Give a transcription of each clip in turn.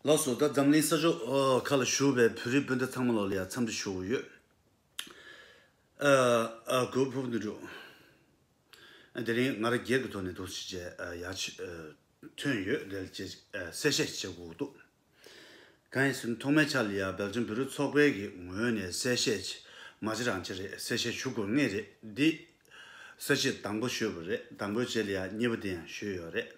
ལགས་སོ། ད་འཛམ་གླིང་ས་ཕྱོགས་ཁག་ལ་བཞུགས་པའི་བོད་རིགས་སྤུན་ཟླ་ཚང་མ་ལགས་ལ་ཡང་འཚམས་འདྲི་ཞུ་དགོས་ཡོད། གོས་ཕུབ་འདི་འདྲུག། དེ་རིང་ང་རང་སྒེར་གྱི་ཐོག་ནས་དོགས་གཞི་བཅས་ཡག་ཆེ་ཐོན་ཡོད་དེ་ལ་ཅེས་གསལ་བཤད་བྱེད་དགོས་འདུག་གང་ཡིན་ཟེར་ན་ཐོག་མའི་ཆ་ལ་ཡང་སྦེལ་ཇམ་བོད་རིགས་ཚོགས་པའི་གི་ངོས་ནས་གསལ་བཤད་བྱས་མ་བྱས་རང་བྱས་རེད་གསལ་བཤད་ཞུ་དགོས་ངེས་རེད་འདི་གསལ་བཤད་དང་པོ་ཞུས་པ་རེད་དང་པོའི་རྗེས་ལ་ཡང་གཉིས་པ་དེ་ཡང་ཞུས་ཡོད་རེད།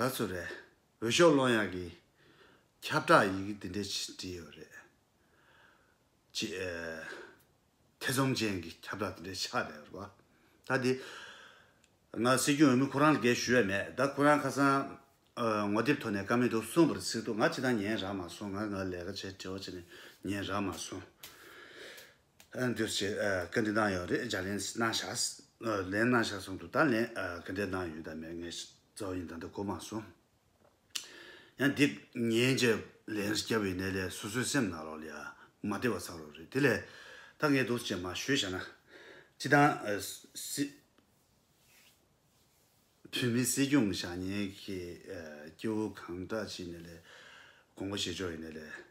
ག་ཚོད་རེད། འོས་ཤོག་སློང་ཡག་གི། ཁྱབ་བསྒྲགས་ཡི་གེ་འདི་འདྲས་བྲིས་ཡོད་རེད། ཅེས། ཐེ་ཚོམ་ཅན་གྱི་ཁྱབ་བསྒྲགས་འདི་འདྲས་ཆགས་བསྡད་ཡོད་རེད་པ། ད་དེ། ང་སྲིད་སྐྱོང་འོས་མི་ཁོ་རང་ལ་འགན་ཞུ་ཡས་མེད་ད་ཁོ་རང་ཁ་སང། ངོ་དེབ་ཐོག་ནས་ཀ་མེད་འདུག་གསུངས་པར་གཟིགས་འདུག་ང་ཅི་དང་ཉན་རག་མ་སོང་ང་ང་ལས་ཀ་བྱས་དེའོ་ཅེས་ནས་ཉན་རག་མ་སོང། འདིར་བྱེད་སྐད་འདི་གནང་ཡོད་རེད་སྦྱར་ལན་གནང་ཤགས། ལན་གནང་ཤགས་གསུངས་འདུག་ད་ལན་སྐད་འདི་གནང་ཡོད་དང་མེད་ངས་གཙོ་བོ་ཡིན་ད་འདི་གོ་མ་སོང། ཡང་འདི་ཉན་རྗེས་ལན་བསྐྱལ་བའི་གནས་ལས་སོ་སོའི་སེམས་ནང་རོགས་ལས་མ་བདེ་བ་བསགས་རོགས་རེད་དེ་ལས་ད་ངས་འདུག་ཅེས་མ་ཞུས་བྱས་ན། སྤྱི་དང། སྲིད། བོད་མི་སྲིད་སྐྱོང་ཞག་ཉན་གྱི་སྐྱེ་བོ་གང་དྲག་ཅིག་ནས་ལས་དགོངས་པ་བཞེས་ཆོག་ཡིན་ནས་ལས།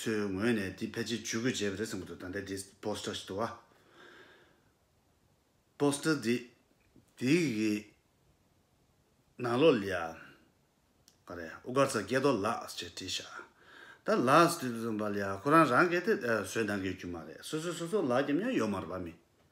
ཚོའི་ངོས་ནས་འདི་ཕལ་ཆེར་ཇུས་འགོད་བྱས་པ་རེད་བསམ་གྱི་འདུག་ད་ལྟའི་འདི Poster ཞིག་འདུག་ཨ། Poster འདི་འདི་གི་ནང་ལོགས་ལ་ཡང་ག་རེ་ཨུ་དཀར་ཚ་རྒྱལ་རྡོ་ལགས་ཞེས་བྲིས་ཤག་ད་ལགས་ཞེས་བྲིས་པ་ལ་ཡང་ཁོ་རང་རང་གས་དེ་བཟོས་གནང་གི་རྒྱུ་མ་རེད་སོ་སོའི་སོ་སོ་ལགས་ཀྱི་མིང་ཡོད་མ་རེད་པ་མི།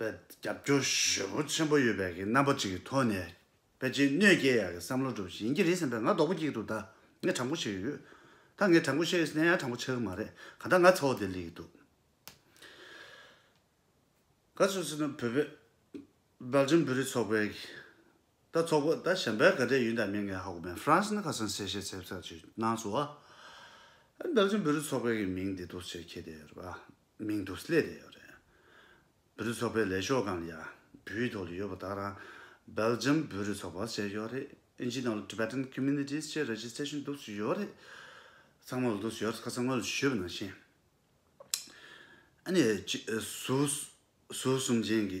པའི་རྒྱབ་སྐྱོར་ཞོལ་པོ་ཆེན་པོ་ཡོད་པའི་གི་རྣམ་པ་ཅིག་གི་ཐོག་ནས་ཕལ་ཆེར་གནོད་སྐྱེལ་ཡག་གི་བསམ་བློ་སྒྲུབ་བཞིན་ཡིན་གྱི་རེད་བསམ་པས་ང་རྡོག་པོ་སྐྱིག་འདུག་ད་ངས་དྲང་པོ་བཤད་ཡོད་ད་ངས་དྲང་པོ་བཤད་ཡོད་ནས་ཡང་དྲང་པོ་ཆགས་གི་མ་རེད་ག་ད་ང་ཚ་བོ་དེ་ལས་ཀྱི་འདུག་ག་སུད་སི་ནི་བོད་པའི་སྦེལ་ཇམ་བོད་རིགས་ཚོགས་པའི་གི་ད་ཚོགས་པ་ད་གཞན་པའི་ག་དྲའི་ཡུན་དང་མི་ངན་ཧ་གོ་མེད་ཧྥ་རན་སི་ནི་ཁ་སང་གསལ་བཤད་ཚེ་བསགས་ཅིག་གནང་སོང་བ་སྦེལ་ཇམ་བོད་རིགས་ཚོགས་པའི་གི་མིང་འདི་འདུག་ཅེས་ཁྱེད་དེ་རེད་པ། མིང་དུ་སླེ་རེ་ཡོད་རེད། བུ་རུ་ཚོགས་པའི་ལས་ཤོག་གང་ཡ་བུའི་ཐོག་ལ་ཡོད་པ་དག་ལ Belgium བུ་རུ་ཚོགས་པ་ཟེར་ཡོད་རེད་ཨིན་ཇི་ནང་ལ Tibetan Communities ཅེས་ར་བཞི་ཚད་ཤིང་འདུག་སུ་ཡོད་རེད་ཚང་མ་ལ་འདུག་སུ་ཡོད་རེད་ཁ་ཚང་ངོས་ལ་ཞུས་པ་ནང་བཞིན་ཨ་ནི་ཟུར་གསུམ་ཅན་གྱི་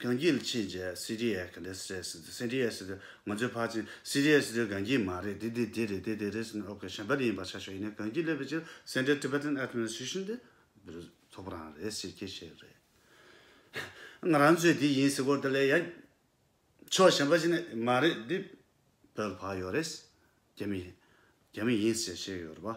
གངས་སྐྱིད་ཕྱིན་རྗེས་སི་རི་ཡས་ག་རེས་རེད་ཟེར་དུས་སི་རི་ཡས་ཟེར་དུས་ང་ཚོའི་ཕར་ཕྱིན་སི་རི་ཡས་ཟེར་དུས་གངས་སྐྱིད་མ་རེད་དེ་དེ་དེ་རེད་དེ་དེ་རེད་ཟེར་ནས་ཨོ་ཁེ་ཞབས་པད་ཡིན་པར་ཆ་ཞོག་ཡིན་ནའི་གངས་སྐྱིད་སླེབས་པའི་ཕྱིར Central Tibetan Administration དེ་འདིར་ཐོབ་པོ་རང་རེད་ཟེར་ཁྱེད་བཤད་ཡོད་རེད། ང་རང་ཚོས་དེ་ཡིན་ཟེར་སྐོར་དེ་ལས་ཡག་ཕྱོགས་གཞན་པ་ཞིག་ནི་མ་རེད་འདི་བོད་ལ་བབས་ཡོད་རེད་རྒྱ་མི་ཡིན་ཟེར་བཤད་ཡོད་རེད་བ།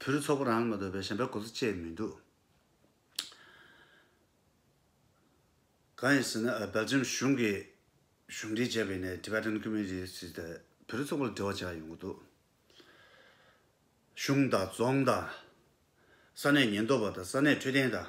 བུ་རུ་ཚོགས་པ་རང་ལ་མ་འདོད་པའི་ཞན་པའི་གོ་ས་སྤྱད་མི་འདུག། གང་ཡིན་ཟེར་ན་སྦེལ་ཇམ་གཞུང་གིས་གཞུང་འབྲེལ་བྱས་པའི་ནས Tibetan Community ཞེས་བྱས་ཏེ་བུ་རུ་ཚོགས་པ་ལ་འབྲེལ་བ་བྱས་པ་ཡོང་གི་འདུག་གཞུང་དང་རྫོང་དང་ས་གནས་ཉེན་རྟོག་པ་དང་ས་གནས་འཕྲོད་བསྟེན་དང།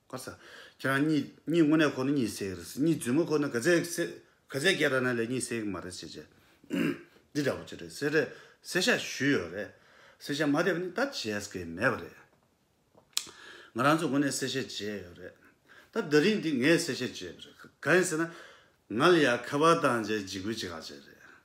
ཁོ་ས། ཁྱེད་རང་གཉིས་གཉིས་དངོས་གནས་ཁོ་ནི་གཉིས་སད་རེད། གཉིས་བརྫུས་མོ་ཁོ་ནི་ག་ཚད་ག་ཚད་ག་ཚད་སྐད་ར་ན་ལས་གཉིས་སད་གི་མ་རེད་ཟེར་བྱས། འདི་འདྲ་བོ་ཅི་རེད་ཟེར། སེ་ཤ་བཞུས་ཡོད་རེད། སེ་ཤ་མ་བསྡད་པ་ནི་ད་བྱས་ཟེར་གི་མེད་པ་རེད། ང་རང་ཚོ་དངོས་གནས་སེ་ཤ་བྱས་ཡོད་རེད། ད་ཟླ་རིང་འདི་ངས་སེ་ཤ་བྱས་པ་རེད། ག་ཡིན་ཟེར་ན། ང་ལ་ཡ་ཁ་བ་དང་བཅས་འཇིགས་སྐུལ་ཅི་ག་བྱས་རེད།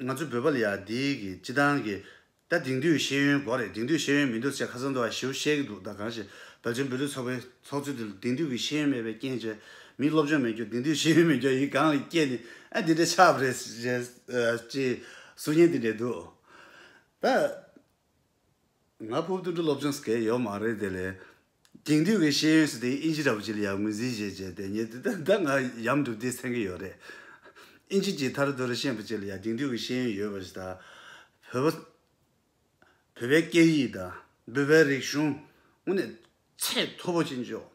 ང་ཚོའི་བོད་པ་ལ་ཡང་འདི་གི་སྤྱི་བཏང་གི། ད་དེང་དུས་ཤེས་ཡོན་གོ་རེད་དེང་དུས་ཤེས་ཡོན་མི་འདུག་ཟེར་ཁ་སང་དུ་ཨ་ཞེའུ་བཤད་གི་འདུག་ད་གང་ཞིག་བོད་ཆེན་བོད་ལུགས་ཚོགས་པའི་ཚོགས་གཙོས་དེ་དེང་དུས་ཀྱི་ཤེས་ཡོན་མེད་པའི་རྐྱེན་བྱས། མིའི་སློབ་སྦྱོང་མེད་རྒྱུ་དེང་དུས་ཤེས་ཡོན་མེད་རྒྱུ་ཡིན་གང་ཡིན་སྐད་ནི་ཨ་དེ་འདྲའི་ཆགས་པ་རེད། ཅེས་གསུང་སྙན་དེ་འདྲས་འདུག་ད། ང་ཕུབ་དུད་འགྲོ་སློབ་སྦྱོང་ཟེར་གི་ཡོད་མ་རེད་དེ་ལས། དེང་དུས་ཀྱི་ཤེས་ཡོན་སྲིད་སྟེགས་དབྱིན་ཇི་ར་བུ་ཅི་ལ་ཡང་ངོས་འཛིན་བྱེད་ཅེས་དེ་ཉིད་དེ་ལྟར་ད་ང་ཡམ་སྒྲུབ་དུས་མཚན་གྱི་ཡོད་རེད། དབྱིན་ཇི་ཅིག་ཐར་རྡོ་རི་ཤན་པོ་ཅིག་ལ་ཡང་དེང་དུས་ཀྱི་ཤེས་ཡོན་ཡོད་པ་ཞིག་དང། བོད་པ། བོད་པའི་སྐད་ཡིག་དང་བོད་པའི་རིག་གཞུང་དངོས་ནས་ཚད་མཐོ་པོ་ཅན་འཇོག་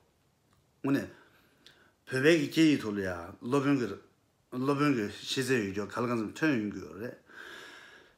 དངོས་ནས། བོད་པའི་གི་སྐད་ཡིག་ཐོག་ལ་ཡང་སློབ་དཔོན་གི་སློབ་དཔོན་གི་ཤེས་ཚད་ཡོད་རྒྱུ་ག་ལ་གང་འཚམས་ཐོན་ཡོང་གི་ཡོད་རེད།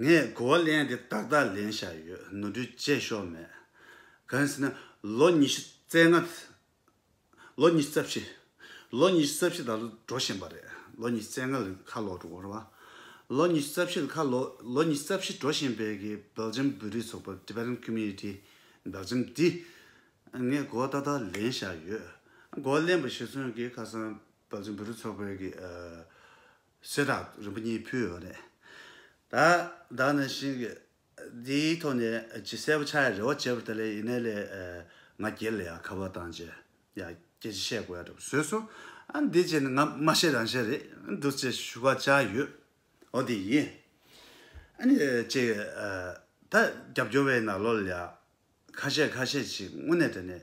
ངས་གོ་བ་ལེན་དེ་ཏག་ཏག་ལེན་བཞག་ཡོད་ནོར་འཁྲུལ་བཅས་ཤོར་མེད། གང་ཟེར་ན། ལོ་ཉི་ཤུ་རྩེ་ལྔ། ལོ་ཉི་ཤུ་རྩ་བཞི། ལོ་ཉི་ཤུ་རྩ་བཞི་ད་ལོ་འགྲོ་བཞིན་པ་རེད། ལོ་ཉི་ཤུ་རྩེ་ལྔ་ལ་ཁ་ལོ་འགྲོ་ར་བ། ལོ་ཉི་ཤུ་རྩ་བཞི་ལ་ཁ་ལོ། ལོ་ཉི་ཤུ་རྩ་བཞི་འགྲོ་བཞིན་པའི་གི་སྦེལ་ཇམ་བོད་རིགས་ཚོགས་པ Development Community Belgium འདི། ངས་གོ་བ་ཏག་ཏག་ལེན་བཞག་ཡོད། གོ་བ་ལེན་པ་ཞིག་ཚུན་གྱི་ཁ་སང་སྦེལ་ཇམ་བོད་རིགས་ཚོགས་པའི་གི། གསེར་རག་རིན་པོ་གཉིས་ཕུལ་བ་རེད། ད་བདག་ནི་ཤིང་གི་འདིའི་ཐོག་ནས་ཇི་གསལ་པོ་ཆ་ཡི་རེ་བ་བྱེད་པར་ཐལ་ལེ་ཡིན་ནའི་ལས་ང་སྒེར་ལ་ཡང་ཁ་བ་བཏང་རྗེས་ཡ་སྐྱེ་ཅི་བཤད་དགོས་ཡ་འདྲ་བོ་བཟོས་སོང། ཨ་འདི་བྱས་ནས་ང་མ་ཤེས་རང་ཤེས་རེད་འདུག་ཅེས་ཞུ་བ་བཅངས་ཡོད། འོ་དེ་ཡིན། ཨ་ནི་ཅེས་ད་རྒྱབ་སྐྱོར་བའི་ནག་ལོ་ལ་ཁ་བཤད་ཁ་བཤད་ཅིག་སྔུན་ནས་དྲན་ནས།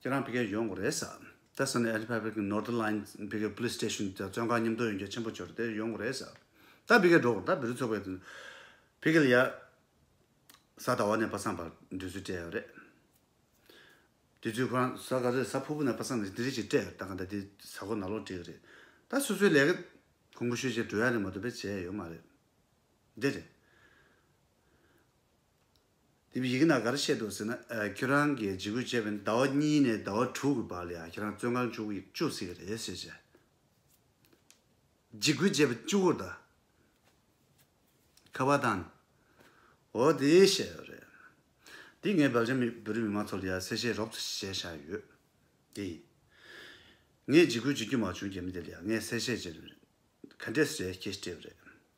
ཁྱེད་རང་བོད་སྐད་ཡོང་གི་རེད་ཟ། དེར་སོང་ནས་ཨེ་ལི་ཕ་བྷེལ་གྱི་ནོར་ཏི་ལཱིན་བོད་སྐད་པུ་ལིས་སྟེ་ཤུན་དེར་བཙོན་ཁང་ཉམས་རྟོགས་ཡོང་རྒྱ་ཆེན་པོ་འབྱོར་དེར་ཡོང་གི་རེད་ཟ། ད་བོད་སྐད་སྒྲོག་གི་ད་བེ་རི་ཚོགས་པའི་དོན་བོད་སྐད་ལ་ཡ། ས་དྭ་བ་ནས་པ་སངས་བར་འདོད་ཚུལ་སྤྲད་ཡོད་རེད། དུས་ཚོད་ཁོ་རང་ས་ག་རེད་ས་ཕུར་བུ་ནས་པ་སངས་ནས་དེ་རིགས་ཅིག་སྤྲད་ཡོད་ད་ག་འདྲ་དེ་ས་གོ་ན་ལོག་བྲིས་གི་རེད། ད་སོ་སོའི་ལས་ཀ་གོང་བུ་ཤོས་ཅིག་འགྲོ་ཡ་རེད་མ་འདུག་པས་བྱས་ཡོད་མ་རེད། འདི་རེད། དེ་བས་ཡི་གེ་ན་ག་རེ་བཤད་འདུག་ཟེར་ན། ཁྱོད་རང་གིས་འཇིགས་སྐུལ་བྱས་པས་ཟླ་བ་གཉིས་ནས་ཟླ་བ་དྲུག་གི་བར་ལ་ཡང་ཁྱེད་རང་བཙོན་ཁང་བཅུག་ཡིག་བཅུག་སྲིད་ཀྱི་རེད་ཟེར་བྱས། འཇིགས་སྐུལ་བྱས་པ་བཅུ་བོར་ད་ཁ་བ་དང། འོ་དེ་བཤད་ཡོད་རེད། དེ་ངས་བལ་ཆ་མི་བོད་རིགས་མི་མང་ཚོ་ལ་ཡང་གསལ་བཤད་རོབ་ཙོ་བྱས་བཞག་ཡོད། དེ་ཡིན། ངས་འཇིགས་སྐུལ་བྱེད་རྒྱུ་མ་བྱུང་རྒྱ་མི་དེ་ལ་ཡང་ངས་གསལ་བཤད་བྱས་རེད། ག་འདྲས་སུ་བྱས་ཁྱེད་ཤི་བྲེལ་བ་རེད།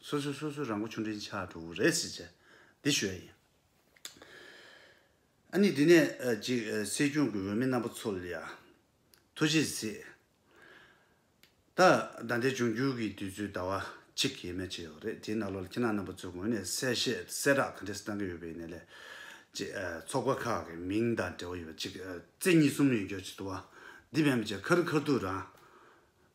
སོ་སོས་སོ་སོའི་རང་མགོ་ཆུང་འབྲིང་ཆགས་འགྲོ་གི་རེད་ཟེར་བྱས། འདི་ཞོལ་ཡིན། ཨ་ནི་འདི་ནས་ཅིག་སྲིད་སྐྱོང་གི་འོས་མི་རྣམ་པ་ཚོ་ལ་ཡང་ཐུགས་རྗེ་གཟིགས། ད་ཟླ་འདི་འབྱུང་འགྱུར་གྱི་དུས་ཚོད་ཟླ་བ་གཅིག་ཡས་མས་བྱས་ཡོད་རེད་དེའི་ནང་ལོར་ཁྱེད་རྣམས་རྣམ་པ་ཚོའི་ངོས་ནས་གསལ་བཤད་གསལ་བསྒྲགས་ག་འདྲས་གཏང་གི་ཡོད་པའི་ནས་ལས་ཅིག་ཚོགས་པ་ཁག་གི་མིང་དང་འབྲེལ་བ་ཡོད་པ་ཅིག་རྩེ་གཉིས་གསུམ་ཡོད་རྒྱུར་ཅིག་དུ་བ་འདི་བས་མ་བྱས་ཁ་རུ་ཁ་ཐུག་རང